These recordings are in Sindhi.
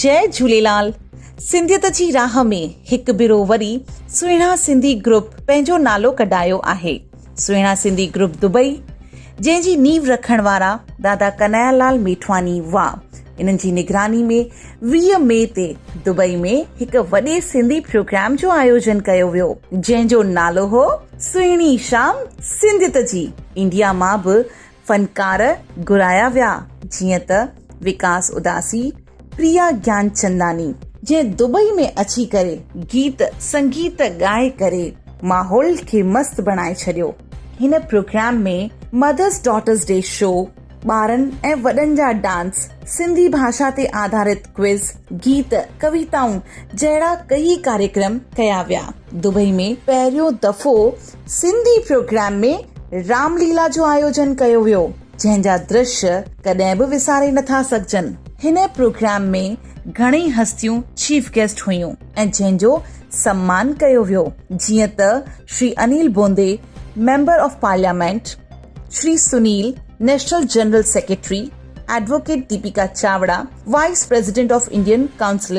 جئ جھوليلال سنڌيت جي راھ ۾ ھڪ ڀيرو وري سهڻا سنڌي گروپ پنهنجو نالو ڪڍايو آھي سهڻا سنڌي گروپ دبئي جنهن جي نينهن رکڻ وارا دادا ڪنايا لال ميٺواني وا انهن جي نگراني ۾ ويهه مئي تي دبئي ۾ هڪ وڏي سنڌي پروگرام جو آيوجن ڪيو ويو جنهن جو نالو هو سهڻي شام سنڌيت جي انڊيا مان به فنڪار گهرايا ويا جيئن ته وڪاس اداسي، پريا گيانچنداني، جنهن دبئي ۾ اچي ڪري گيت سنگيت ڳائي ڪري ماحول کي مست بڻائي ڇڏيو هن پروگرام ۾ مدرس ڊاٽرس ڊي شو ٻارن ۽ وڏن جا ڊانس سنڌي ڀاشا تي آڌارت ڪوئز گيت ڪويتائون جهڙا ڪيئي ڪاريڪرم ڪيا ويا دبئي ۾ پهريون دفعو سنڌي پروگرام ۾ رام ليلا جو آيوجن ڪيو ويو جنهن جا درشي ڪڏهن به وساري نٿا سگهجن. هن پروگرام ۾ گهڻئي هستيون چيف گيسٽ هيون ۽ جنهن جو سمان ڪيو ويو جيئن ته Shri Anil Bundi member of parliament, Shri Sunil national general secretary, advocate Deepika Chawda vice president of Indian council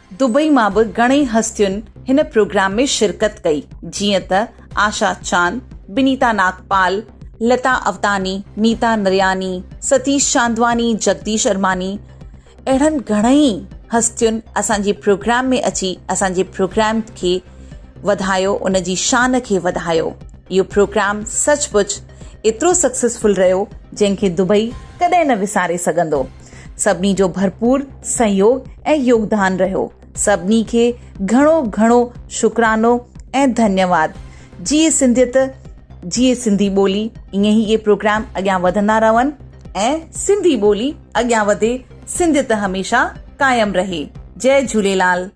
Dubai مان به گهڻئي هستين هن پروگرام ۾ شرڪت ڪئي جيئن ته آشا چاند، بنيتا ناگپال، لتا اوتاني، نيتا نرياني، ستيش چاندواني، جگديش ارماني اهڙن گهڻئي هستين اسان جي پروگرام ۾ اچي اسان جي پروگرام کي وڌايو ان جي شان کي وڌايو اهو پروگرام سچ پچ ايترو سڪسيسفل رهيو جنهن کي دبئي ڪڏهن نه وساري سگهندو. سڀني جو ڀرپور سهيوگ ۽ يوگدان رهيو سڀني کي گهڻو گهڻو شڪرانو ۽ ڌنيواد جيئي سنڌيت جيئي سنڌي ٻولي ائين ئي اهي پروگرام اڳيان وڌندا رهن ۽ سنڌي ٻولي اڳيان وڌي سنڌيت هميشه قائم رهي جي جهوليلال